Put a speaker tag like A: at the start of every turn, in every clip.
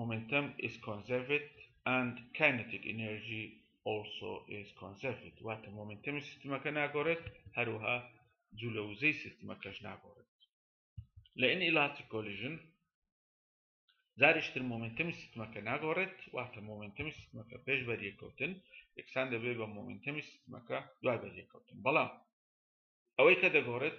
A: Momentum is conserved and kinetic energy also is conserved واتە مۆمنتەمی سیستمەکە ناگۆڕێت هەروها جوولە وزەی سیستمەکەش ناگۆڕێت لە ئین ئیلاتی کۆلیژن جاریشتر مۆمنتەمی سیستمەکە ناگۆڕێت واتە مۆمنتەمی سیستمەکە پێش بەریەکەوتن یەکسان دەبێت بە مۆمنتەمی سیستمەکە دوای بەریەکەوتن بەڵام ئەوەی کە دەگۆڕێت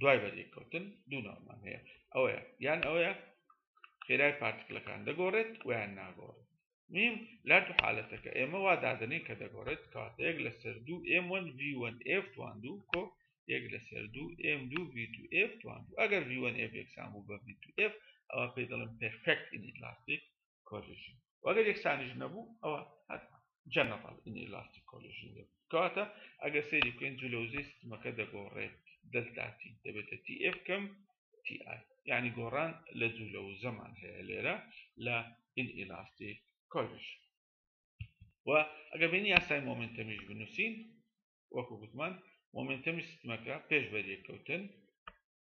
A: دوای بەدێککەوتن دوو ناومان هەیە ئەوەیە یان ئەوەیە خێرای پارتکلەکان دەگۆڕێت ویان ناگۆڕێت نیم لا تو حالەتەکە ئێمە وا دادنین کە دەگۆڕێت کاتە یەک لە سەر دوو M1 V1 F توان دوو کۆ یەک لە سەر دوو M2 V2 F توان دوو ئەگەر V1 F یەکسان بوو بە V2 F ئەوە پێی دەڵم پرفکت ئینیلاستیک کۆلیژن وەگەر یەکسانیش نەبوو ئەوە هەتمان جەنەڕال ئینئلاستیک کۆلیژن دەبوو کەواتە ئەگەر سەیری بکەین جلەوزەی سیستمەکە دەگۆڕێت دەلتاتی دەبێتە تی ئف کەم تی ئای یعنی گۆڕان لە جوولە و زەمان هەیە لێرە لە ئینئلاستیک کۆلیژن و ئەگە بینی یاسای مۆمنتەمیش بنووسین وەکو گوتمان مۆمنتەمی سیستمەکە پێش بەریەککەوتن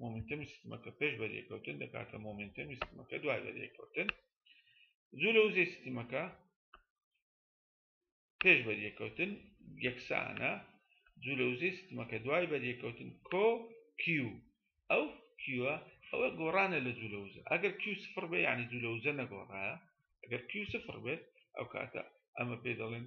A: مۆمنتەمی سیستمەکە پێش بەریەکەوتن دەکاتە مۆمنتەمی سیستمەکە دوای بەریەکەوتن زوو لە وزەی سیستمەکە پێش بەریەکەوتن یەکسانە زوو لە وزەی سیستمەکە دوای بەریەکەوتن کۆ کیو ئەو کیوە ئەوە گۆڕانە لە زوو لە وزە ئەگەر کیو سفر بێ یعنی زوو لە وزە نەگۆڕایە ئەگەر کیو سفر بێت ئەو کاتە ئەمە پێ دەڵێن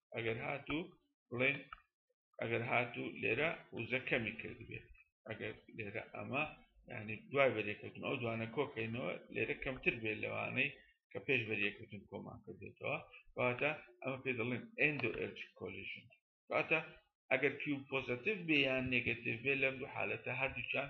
A: ئەگەر هاتوو بڵێن ئەگەر هاتوو لێرە وزە کەمی کردبێت ئەگەر لێرە ئەمە ینی دوای بەرێکەوتن ئەو دوانە کۆکەینەوە لێرە کەمتر بێت لەوانەی کە پێش بەرێکەوتن کۆمان کردێتەوە واتە ئەمە پێ دەڵێن ئەندۆ ئەرج کۆلیژن واتە ئەگەر پیو پۆزتیف بێ یان نگەتیف بێ لەم دوو حالەتە هەردووچان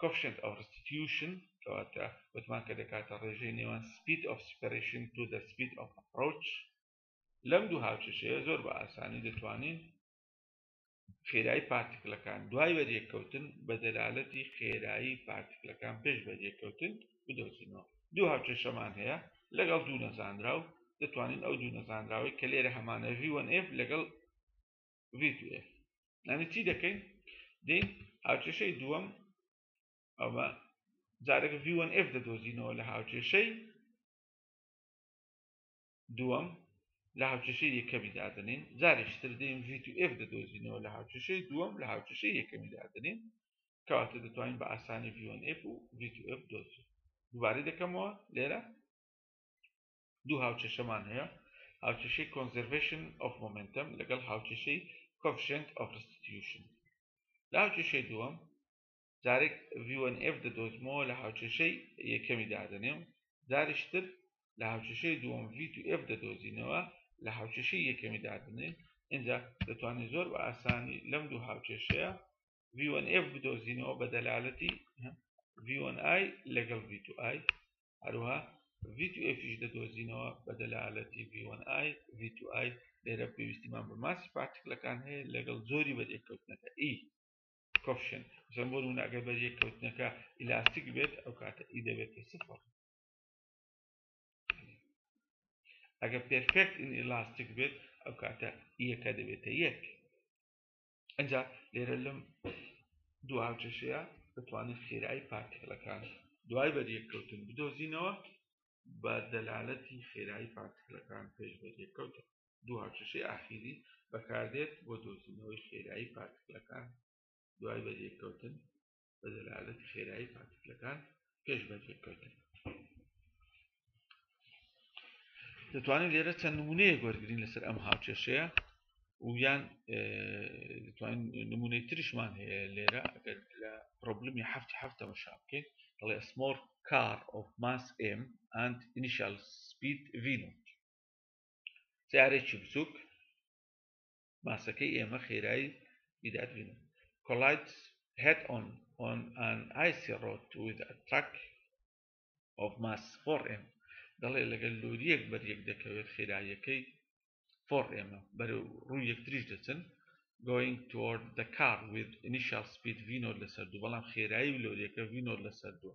A: کۆفشنت ئەو ڕستیتیوشن کەواتە وتمان کە دەکاتە ڕێژەی نێوان سپیت ئۆف سپەرشن تو دە سپیت ئۆف ڕۆچ لەم دوو هاوچەشەیە زۆر بە ئاسانی دەتوانین خێرایی پارتیکلەکان دوای وەریەککەوتن بە دەلالەتی خێرایی پارتیکلەکان پێش بەریەککەوتن بدۆزینەوە دوو هاوچەشەمان هەیە لەگەڵ دوو نەزانرا و دەتوانین ئەو دوو نەزانراوەی کە لێرە هەمانە ڤوەن ئف لەگەڵ ڤی تو ئێف یعنی چی دەکەین دێین هاوکێشەی دووەم ئەوە جارێک ڤی وەن ئێف دەدۆزینەوە لە هاوکێشەی دووەم لە هاوکێشەی یەکەمی دادنین جارێکی تر دێین ڤی تو ئێف دەدۆزینەوە لە هاوکێشەی دووەم لە هاوکێشەی یەکەمی دادنین کەواتە دەتوانین بە ئاسانی ڤی وەن ئێف و ڤی تو ئێف دۆزین دووبارەی دەکەمەوە لێرە دوو هاوکێشەمان هەیە، هاوکێشەی Conservation of Momentum لەگەڵ هاوکێشەی Coefficient of Restitution. لە هاوکێشەی دووەم جارێک V1F دەدۆزمەوە لە هاوکێشەی یەکەمی دادەنێم، جاریشتر لە هاوکێشەی دووەم V2F دەدۆزینەوە لە هاوکێشەی یەکەمی دادەنێم، ئینجا دەتوانین زۆر بە ئاسانی لەم دوو هاوکێشەیە V1F بدۆزینەوە بە دەلالەتی V1I لەگەڵ V2I هەروەها V2Fیش دەدۆزینەوە بە دەلالەتی V1I V2I لێرە پێویستیمان بە ماسی پارتکلەکان هەیە لەگەڵ زۆری بەریەککەوتنەکە ئی e. کۆفشن زەم بۆ نمونەگە بەریەککەوتنەکە ئیلاستیک بێت ئەو کاتە ئی e دەبێت سفر ئەگە پێرفێکت ئین ئیلاستیک بێت ئەو کاتە یەکە e دەبێتە یەک ئەجا لێرە لەم دوهاوکێشەیە دەتوانین خێرایی پارتکلەکان دوای بەریەککەوتن بدۆزینەوە بە دەلالەتی خێرایی پارتکلەکان پێش بەریەککەوتن دوهاوکێشەی ئاخیری بەکاردێت بۆ دۆزینەوەی خێرایی پارتکلەکان دوای بەریەککەوتن بە دەلالەتی خێرایی پارتیکلەکان پێش بەجێکردن دەتوانین لێرە چەند نمونەیە گۆرگرین لەسەر ئەم هاوچێشەیە ویان دەتوانین نمونەی ترشمان هەیە لێرە ئەگەر لە پرۆبلمی هەفتی هەفتە مەشا بکەین دەڵێ ئەسمۆر کار ئۆف ماس ئم ئەند ئینیشال سپید ڤینۆت سیارێکی بچووک ماسەکەی ئێمە خێرایی میداد بینن collides head on on an icy road with a truck of mass 4M دەڵێ لەگەل لۆریەک بەریەک دەکەوێت خێراییەکەی 4M بەرە ڕوو یەکتریش دەچن going toward the car with initial speed V0 لەسەر دوو بەڵام خێرایی لۆریەکە V0 لەسەر دووە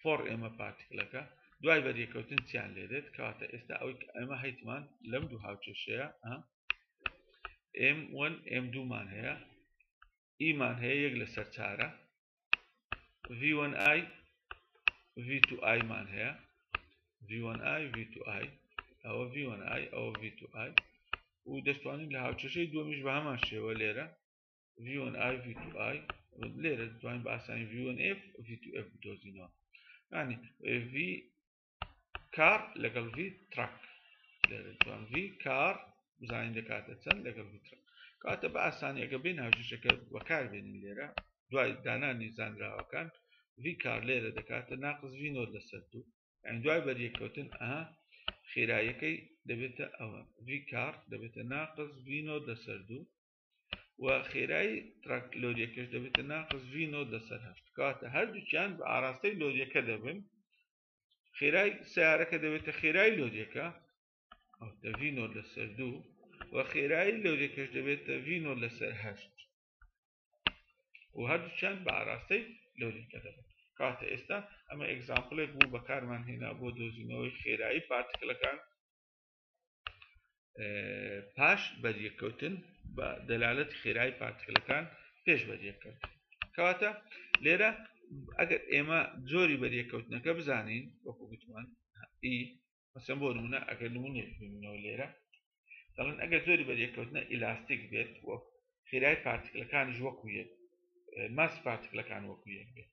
A: فۆڕ ئێمە پارتیکلەکە دوای بەریەکەوتن چیان لێدێت کەواتە ئێستا ئەوەی ئێمە هەیتمان لەم دوو هاوچێشەیە ئم وەن ئم دوومان هەیە ئیمان هەیە یەک لە سەرچارە V1 I V2 I مان هەیە V1 I V2 I ئەوە V1 I ئەوە V2 I و دەستوانین لە هاوچەشەی دومیش بە هەمان شێوە لێرە ڤیۆن ئای ڤی تو ئای لێرە دەتوانین بە ئاسانی ڤیۆن ئف ڤی تو ئف بدۆزینەوە ینی ڤی کار لەگەڵ ڤی تراک لێرە دەتوان ڤی کار بزانین دەکاتە چەند لەگەڵ ڤی تراک کاتە بە ئاسانی ئەگە بێن هاژشەکە بەکار بێنین لێرە دوای دانانی زانراوەکان ڤی کار لێرە دەکاتە ناقز ڤی نۆر لەسەر دوو ئەین دوای بەریەکەوتن ئەها خێرایەکەی دەبێتە ئەوە ڤی کار دەبێتە ناقز ڤی نۆر لەسەر دوو و خێرایی تراک لۆریەکەش دەبێتە ناقص ڤی نۆت لەسەر هەشت کاتە هەردووکیان بە ئاراستەی لۆریەکە دەبن خێرای سیارەکە دەبێتە خێرای لۆریەکە ڤی نۆت لەسەر دوو و خێرایی لۆریەکەش دەبێتە ڤی نۆت لەسەر هەشت و هەردووکیان بە ئاراستەی لۆریەکە دەبن کاتە ئێستا ئەمە ئەگزامپلێک بوو بەکارمان هێنا بۆ دۆزینەوەی خێرایی پارتکلەکان پاش بەریەککەوتن بە دەلالەت خێرای پارتکلەکان پێش بەریەککەوت کەواتە لێرە ئەگەر ئێمە جۆری بەریەککەوتنەکە بزانین وەکو گوتمان ئی مەسم بۆ نمونە ئەگەر نمونێنەوە لێرە دەڵێن ئەگەر زۆری بەریەککەوتنە ئیلاستیک بێت وە خێرای پارتکلەکان ژوەکویەت ماس پارتکلەکان وەکویەک بێت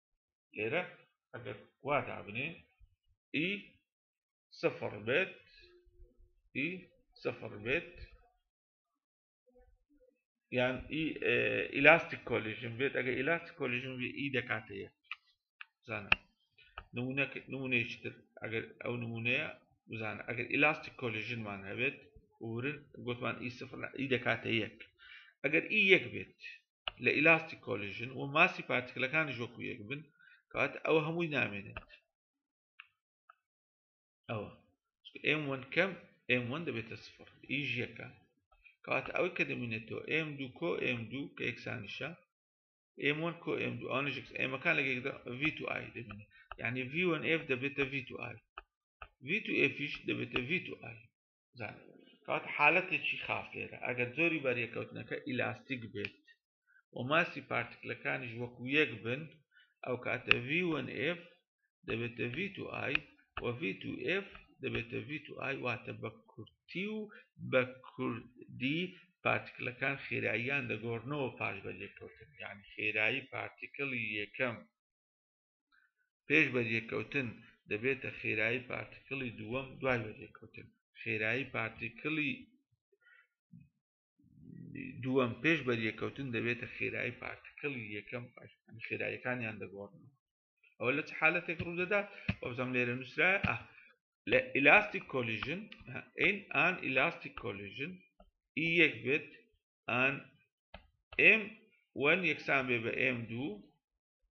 A: لێرە ئەگەر وا دابنێ ئی سفر بێت ئی سفر بێت یان ئی ئیلاستیک کۆلیژن بێت ئەگەر ئیلاستیک کۆلیژن بێ ئی دەکاتە یەک بزانە نمونەیەکی تر ئەگەر ئەو نمونەیە بزانە ئەگەر ئیلاستیک کۆلیژنمان هەبێت ورن گوتمان ئی سفر ئی دەکاتە یەک ئەگەر ئی یەک بێت لە ئیلاستیک کۆلیژن و ماسی پارتیکلەکانیش وەکو یەک بن کەواتە ئەوە هەمووی نامێنێت ئەوە ئێم وەن کەم ئێم وەن دەبێتە سفر ئیش یەکە کەواتە ئەوەی کە دەمینێتەوە ئێم دوو کۆ ئێم دوو کە یەکسانیشە ئێم وەن کۆ ئێم دوو ئەوانش ئێمەکان لەگەیدا ڤی تو ئای دەبینێت یعنی ڤی وەن ئێف دەبێتە ڤی تو ئای ڤی تو ئێفیش دەبێتە ڤی تو ئای کات حالەتێکی خاف لێرە ئەگەر جۆری بەریەکەوتنەکە ئیلاستیک بێت و ماسی پارتکلەکانیش وەکو یەک بن ئەو کاتە VF دەبێتە V2I و V2F دەبێتە V2I واتە بە کورتی و بە کوردی پارتکلەکان خێراییان دەگۆڕنەوە پاش بە لێکەوتن یان خێرایی پارتیکلی یەکەم پێش بەریەککەوتن دەبێتە خێرایی پارتیکلی دووەم دوای بەریەککەوتن خێرایی پارتیکلی دووەم پێش بەریەککەوتن دەبێتە خێرایی پارتیکلی یەکەم خێرایەکانیان دەگۆڕن ئەوە لە چ حالەتێک ڕوودەدات وەبزەم لێرە نووسرا لە ئیلاستیک کۆلیژن ئەین ئان ئیلاستیک کۆلیژن ئی یەک بێت ئان ئێم وەن یەکسان بێ بە ئێم دوو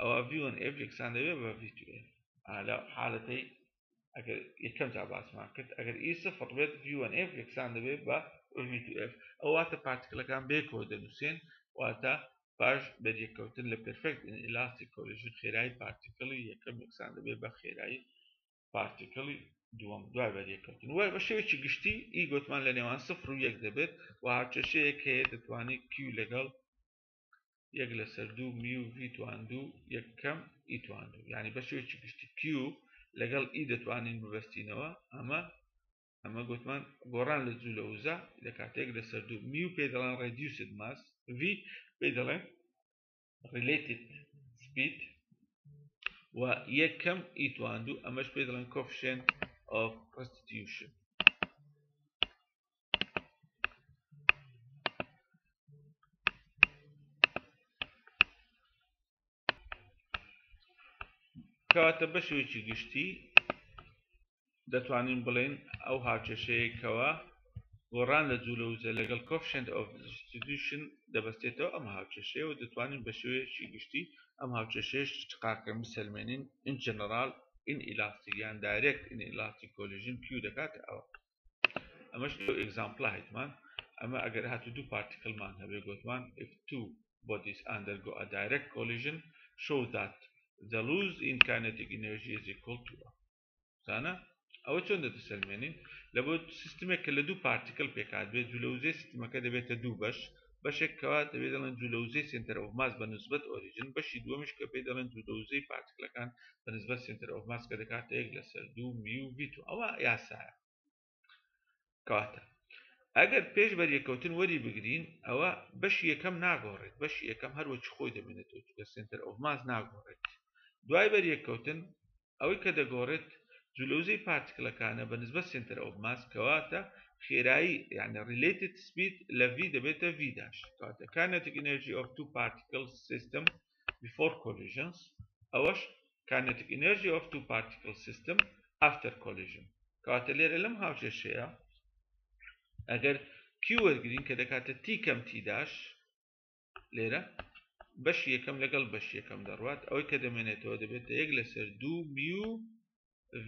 A: ئەوە ڤی وەن ئێف یەکسان دەبێت بە ڤی تو ئێف لە حالەتەی ئەگەر یەکەم جا باسمان کرد ئەگەر ئی سفر بێت ڤی وەن ئێف یەکسان دەبێت بە ڤی تو ئێف ئەو واتە پارتکلەکان بێکەوە دەنووسێن واتە پاش بەریەککەوتن لە پرفێکت ئیلاستیک کۆلیژن خێرایی پارتیکلی یەکەم یەکسان دەبێت بە خێرایی پارتیکلی دووەم دوای بەریەککەوتن وای بە شێوێکی گشتی ئی گوتمان لە نێوان سفر و یەک دەبێت و هاوچەشەیەک هەیە دەتوانێت کیو لەگەڵ یەک لەسەر دوو میو ڤی تواندوو یەک کەم ئی تواندوو یعنی بە شێوەیەکی گشتی کیو لەگەڵ ئی دەتوانین ببەستینەوە ئەمە ئەمە گوتمان گۆڕان لە جوو لە وزە لە کاتێک لەسەر دوو میو پێ دەڵێن ڕێدیوسد ماس ڤی پێ دەڵێن ڕیلێتد سپید و یەک کەم ئی تواندوو ئەمەش پێ دەڵێن کۆفشێن ئۆف ڕستیوشن کەواتە بەشێکی گشتی دەتوانین بڵێن ئەو هاوچەشەیەکەوە گۆڕان لە جوولە وزە لەگەڵ کۆفشنت ئۆف دیستریبیوشن دەبەستێتەوە ئەم هاوچەشەیە و دەتوانین بە شێوەیەکی گشتی ئەم هاوچەشەیەش تقاکە بسەلمێنین ئین جەنەرال ئین ئیلاستیک یان دایرێکت ئین ئیلاستیک کۆلیژن کیو دەکاتە ئەوە ئەمەش لەو ئەگزامپڵە هەیتمان ئەمە ئەگەر هاتو دوو پارتیکلمان هەبێ گوتمان if two bodies undergo a direct collision show that the lose in kinetic energy is equal to زانە ئەوە چۆن دەدەسەلمێنین لە بۆ سیستمێک کە لە دوو پارتیکل پێکات بێت جلوزێ سیستمەکە دەبێتە دوو بەش بەشێک کە دەبێ دەڵێن جوولە وزەی سێنتەر ئۆف ماس بە نسبەت ئۆریجن، بەشی دووەمیش کە پێی دەڵێن جوولە وزەی پارتکلەکان بە نسبەت سێنتەر ئۆف ماس کە دەکاتە یەک لەسەر دوو میو ڤی تو. ئەوە یاسایە. کەواتە ئەگەر پێش بەریەکەوتن وەری بگرین ئەوە بەشی یەکەم ناگۆڕێت بەشی یەکەم هەروەکی خۆی دەمێنێتەوە چونکە سێنتەر ئۆف ماس ناگۆڕێت دوای بەریەکەوتن ئەوەی کە دەگۆڕێت جولەوزەی پارتکلەکانە بە نسبەت سێنتەر ئۆف ماس کەواتە خێرایی یانە ڕیلەیتد سپید لە ڤی دەبێتە ڤی داش کەواتە کاینەتیک ئینێرجی ئۆف تو پارتکل سیستم بیفۆر کۆلیژنس ئەوەش کاینەتیک ئینێرجی ئۆف تو پارتکل سیستم ئافتەر کۆلیژن کەواتە لێرە لەم هاوکێشەیە ئەگەر کیو وەرگرین کە دەکاتە تی کەم تی داش لێرە بەش یەکەم لەگەڵ بەش یەکەم دەڕوات ئەوەی کە دەمێنێتەوە دەبێتە یەک لەسەر دوو میو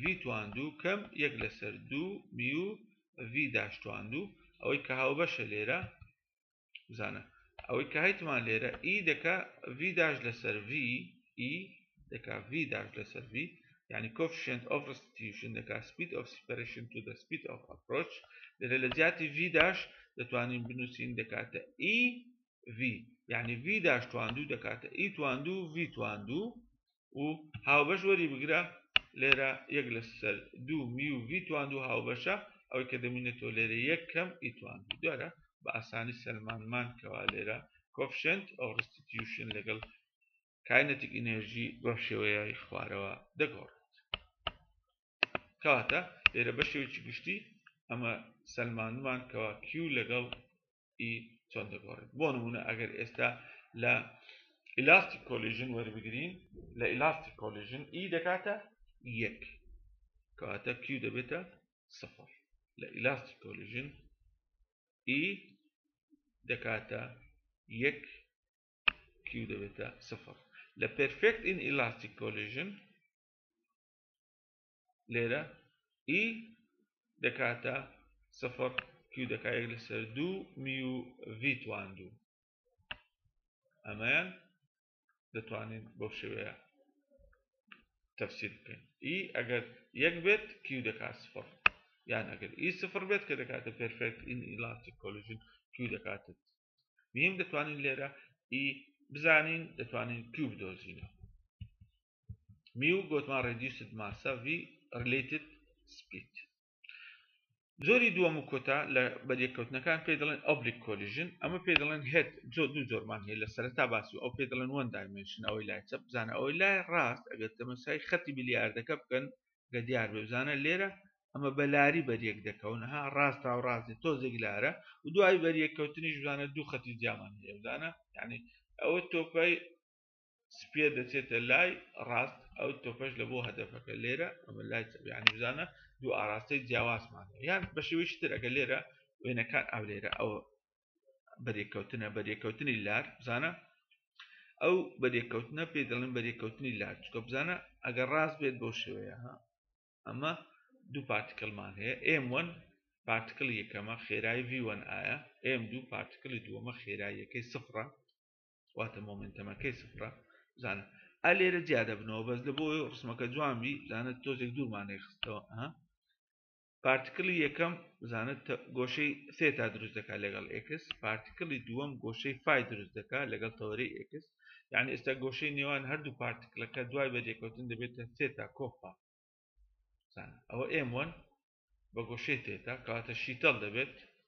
A: ڤیتوان دوو کەم یەک لەسەر دوو میو ڤی داشتوان دوو ئەوەی کە هاوبەشە لێرە بزانە ئەوەی کە هەیتمان لێرە ئی دەکا ڤی داش لەسەر ڤی ئی دەکا v داش لەسەر v یعنی coefficient of restitution دەکا speed of separation to the speed of approach لێرە لە جیاتی v داش دەتوانین بنووسین دەکاتە e v یعنی v داش تواندوو دەکاتە e تواندوو v تواندوو و هاوبەش وەری بگرە لێرە یەک لەسەر دوو می و v تواندوو هاوبەشە ئەوەی کە دەمینێتەوە لێرە یەک کەم e تواندوو دوارە بە ئاسانی سەلمانمان کەوا لێرە coefficient of restitution لەگەڵ کاینەتیک ئینێرژی بەم شێوەیەی خوارەوە دەگۆڕێت کەواتە لێرە بە شێوکی گشتی ئەمە سلمانمان کەوا کیو لەگەڵ ئی چۆن دەگۆڕێت بۆ نمونە ئەگەر ئێستا لە ئیلاستیک کۆلیژن وەربگرین لە ئیلاستیک کۆلیژن ئی دەکاتە یەک کەواتە کیو دەبێتە سفر لە ئیلاستیک کۆلیژن ئی دەکاتە یەک Q دەبێتە سفر لە پرفێکت ئین ئیلاستیک کۆلیژن لێرە ئی e دەکاتە سفر Q دەکات یەک لەسەر دوو میو ڤیتوان دوو ئەمەیان دەتوانین بەو شێوەیە تەفسیر بکەین ئی e ئەگەر یەک بێت Q دەکات سفر یان ئەگەر ئی e سفر بێت کە دەکاتە پرفێکت ئین ئیلاستیک کۆلیژن Q دەکاتە بینیم دەتوانین لێرە ئی بزانین دەتوانین کیو بدۆزینەوە میو گوتمان ڕێدیوسد ماسە وی ڕلیتد سپیت زۆری دووەم و کۆتا لە بەریەکەوتنەکان پێ دەڵێن ئۆبلیک کۆلیژن ئەمە پێ دەڵێن هێت زۆ دوو زۆرمان هەیە لە سەرتا باس و ئەو پێ دەڵێن وەن دایمنشن ئەوەی لای چەپ بزانە ئەوەی لای ڕاست ئەگەر تەمەسای خەتی بلیاردەکە بکەن گە دیار بێ بزانە لێرە ئەمە بە لاری بەریەک دەکەون ها ڕاست تاو ڕاستی تۆزێک لارە و دوای بەریەک کەوتنیش بزانە دوو خەتی جیامان هەیە بزانە یعنی ئەوە تۆپای سپێ دەچێتە لای ڕاست ئەو تۆپەش لە بۆ هەدەفەکە لێرە ئەمە لای چەبیانی بزانە دوو ئاراستەی جیاوازمان یان بە شێوەی شتر ئەگە لێرە وێنەکان ئەو لێرە ئەوە بەرێککەوتنە بەرێککەوتنی لار بزانە ئەو بەرێککەوتنە پێ دەڵێن بەرێککەوتنی لار چکە بزانە ئەگەر ڕاست بێت بۆ شێوەیە ها ئەمە دوو پارتکلمان هەیە ئێم وەن پارتکل یەکەمە خێرای ڤوەن ئایا ئێم دوو پارتکلی دووەمە خێراییەکەی سفرە واتە مۆمنتەمەکەی سفرە بزانە ئە لێرە جیا دەبنەوە بەس لە بۆ ڕسمەکە جوانبی بزانە تۆزێک دوورمانێک خستەوە ها پارتکلی یەکەم بزانە گۆشەی سێتا دروست دەکات لەگەڵ ئێکس پارتکلی دووەم گۆشەی فای دروست دەکات لەگەڵ تەوەری ئێکس یعنی ئێستا گۆشەی نێوان هەردوو پارتکلەکە دوای بەجێکەوتن دەبێتە سێتا کۆپا ئەوە ئێم وەن بە گۆشەی تێتا کاتە شیتەڵ دەبێت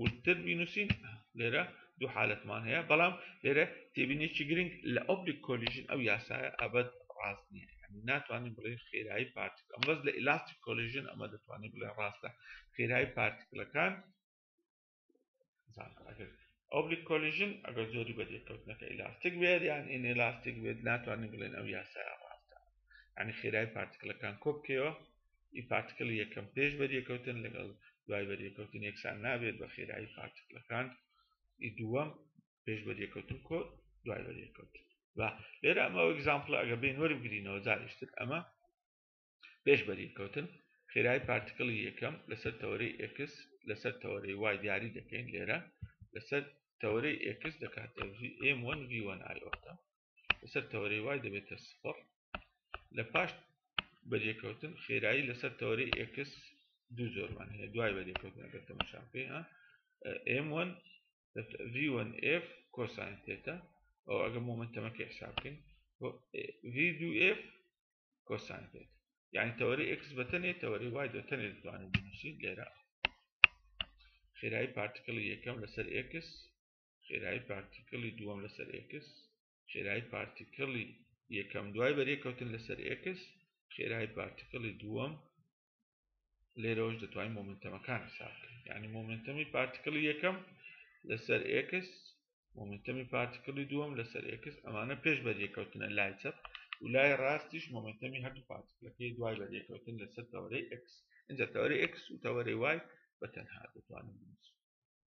A: وردتر بینوسین لێرە دوو حالەتمان هەیە بەڵام لێرە تێبینێکی گرنگ لە ئۆبلیک کۆلیژن ئەو یاسایە ئەبەت ڕاست نییە یعنی ناتوانین بڵێ خێرایی پارتیک ئەم بەس لە ئیلاستیک کۆلیژن ئەمە دەتوانین بڵێ ڕاستە خێرایی پارتیکلەکان ئۆبلیک کۆلیژن ئەگەر زۆری بە دێکەوتنەکە ئیلاستیک بێت یان ئین ئێلاستیک بێت ناتوانین بڵێن ئەو یاسایە ڕاستە ینی خێرای پارتیکلەکان کۆبکەوە ی پارتکڵی یەکەم پێش بەریەکەوتن لەگەڵ دوای بەریەکەوتن یەکسان نابێت بە خێرایی پارتکڵەکان ی دووەم پێش بەریەکەوتن کۆ دوای بەریەکەوتن و لێرە ئەمە ئەگزامپڵە ئەگە بین وەربگرینەوە جاریشتر ئەمە پێش بەریەکەوتن خێرای پارتکڵی یەکەم لەسەر تەوەری ئکس لەسەر تەوەری وای دیاری دەکەین لێرە لەسەر تەوەری ئکس دەکاتە ئێم وەن ڤوەن ئایۆتە لەسەر تەوەرەی وای دەبێتە سفر لە پاش بەریەکەوتن خێرایی لەسەر تەوەری ئکس دوو زۆرمان هەیە دوای بەریەکەوتن ئەگەر تەمەشان پێ M1 V1 F کۆسانی تێتە ئەو ئەگە مۆمنتەمەکە حساب بکەین V2 F کۆسانی تێت یعنی تەوەری X بەتەنێ تەوەری وای دەتەنێ دەتوانین بنووسین لێرە خێرایی پارتکڵی یەکەم لەسەر X خێرایی پارتیکلی دووەم لەسەر ئێکس خێرایی پارتیکلی یەکەم دوای بەرێکەوتن لەسەر ئێکس خێرایی پارتیکلی دووەم لێرەوەش دەتوانین مۆمنتەمەکان حسابکەین یعنی مۆمنتەمی پارتیکلی یەکەم لەسەر ئێکس مۆمنتەمی پارتیکلی دووەم لەسەر ئێکس ئەمانە پێش بەریەکەوتنە لای چەپ و لای ڕاستیش مۆمنتەمی هەردوو پارتیکلەکەی دوای بەریەکەوتن لەسەر تەوەرەی ئەکس اینجا تەوەری ئەکس و تەوەری وای بە تەنها دەتوانین بنووسین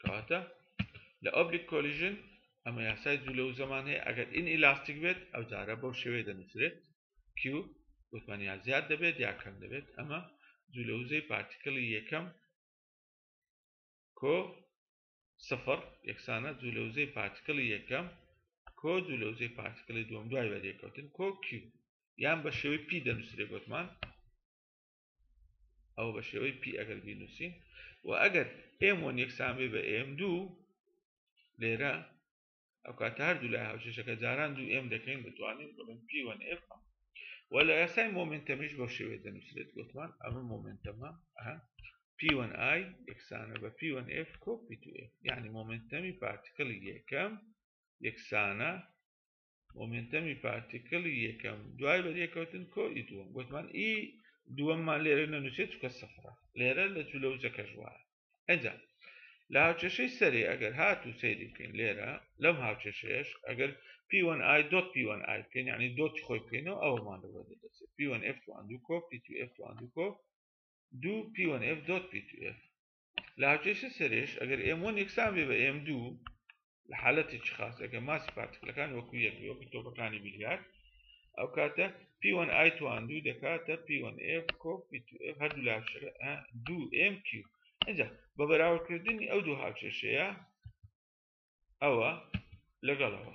A: کەواتە لە ئۆبلیک کۆلیژن ئەمە یاسای دوو لە وزەمان هەیە ئەگەر ئین ئیلاستیک بێت ئەو جارە بەو شێوەیە دەنووسرێت کیو وتمان یا زیاد دەبێت یا کەم دەبێت ئەمە دوو لە وزەی پارتیکلی یەکەم کۆ سفر یەکسانە دوو لە وزەی پارتیکلی یەکەم کۆ دوو لە وزەی پارتیکلی دوم دوای وەریەکەوتن کۆ کیو یان بە شێوەی پی دەنووسرێ گوتمان ئەو بە شێوەی پی ئەگەر بینووسین و ئەگەر ئێم وەن یەکسانبێ بە ئێم دوو لێرە ئەو کاتە هەردوو لای هاوچێشەکە جاران دوو ئێم دەکەین دەتوانین بڵێن پی وەن ئێف وە لە یاسای مۆمنتەمیش بەو شێوێ دەنووسێت گوتمان ئەمە مۆمنتەمە پی وەن ئای یەکسانە بە پی وەن ئێف کۆپی تو ئێف یعنی مۆمنتەمی پارتیکڵی یەکەم یەکسانە مۆمێنتەمی پارتیکلی یەکەم دوای بەریەکەوتن کۆی دووەم گوتمان ئی دووەممان لێرە نەنووسێت چکە سەفرە لێرە لە جوولە و جەکەش وایە ئەجا لە هاوچێشەی سەرێ ئەگەر هات و سەیری بکەین لێرە لەم هاوچێشەیەش ئەگەر پیوەن ئای دۆت پیوەن ئای بکەین یعنی دۆت خۆی بکەینەوە ئەومان لەوە دەدەچێت پیوەن F1 دوو کۆ پی2 F1 دوو کۆ دوو پیوەن F دۆت پی2 F لە هاوکێشە سەرێش ئەگەر ئێم وەن یەکسان بێ بە ئێم دوو لە حالەتی چ خاص ئەگەر ماسی پارتکلەکان وەکو یەک بێ وەکو تۆپەکانی بیلیارد ئەو کاتە پیوەن ئای توان دوو دەکاتە پیوەن ئف کۆ پی تو ئف هەردوو لا شرە ئە دوو ئێم کیو ئەجا بە بەراوردکردنی ئەو دوو هاوکێشەیە ئەوە لەگەڵەوە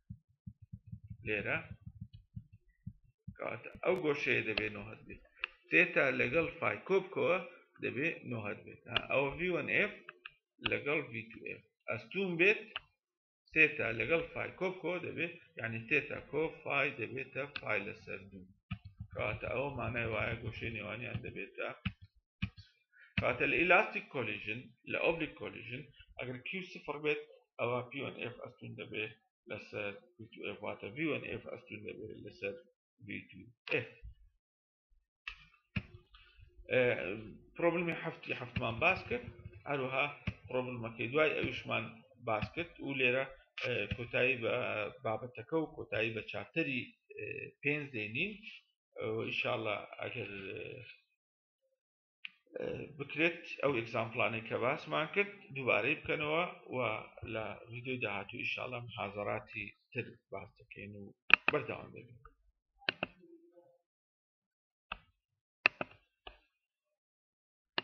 A: لێرە کەواتە ئەو گۆشەیە دەبێ نۆهد بێت تێتا لەگەڵ فای کۆبکەوە دەبێ نۆهد بێت ئەوە V1F لەگەڵ V2F ئەستوم بێت تێتا لەگەڵ فای کۆبکەوە دەبێت یعنی تێتا کۆ فای دەبێتە فای لەسەر دوو کەواتە ئەوە مانای وایە گۆشەی نێوانیان دەبێتە کاتە لە ئیلاستیک کۆلیژن لە ئۆبلیک کۆلیژن ئەگەر کیو سفر بێت ئەوە پیۆن ئف ئەستون دەبێت لەسەر واتە ڤیۆن ئف ئەستون دەبێت لەسەر پرۆبلمی هەفتی هەفتمان باس کرد هەروها پرۆبلمەکەی دوای ئەویشمان باس کرد و لێرە کۆتایی بە بابەتەکە و کۆتایی بە چاپتەری پێنج دێنین ئیشاءله ئەگەر بکرێت ئەو ئەگزامپلانەی کە باسمان کرد دووبارەی بکەنەوە و لە ویددیوی داهاتوو ئیشاڵم حازراتی تر باس دەکەین و بەرداوام دەبین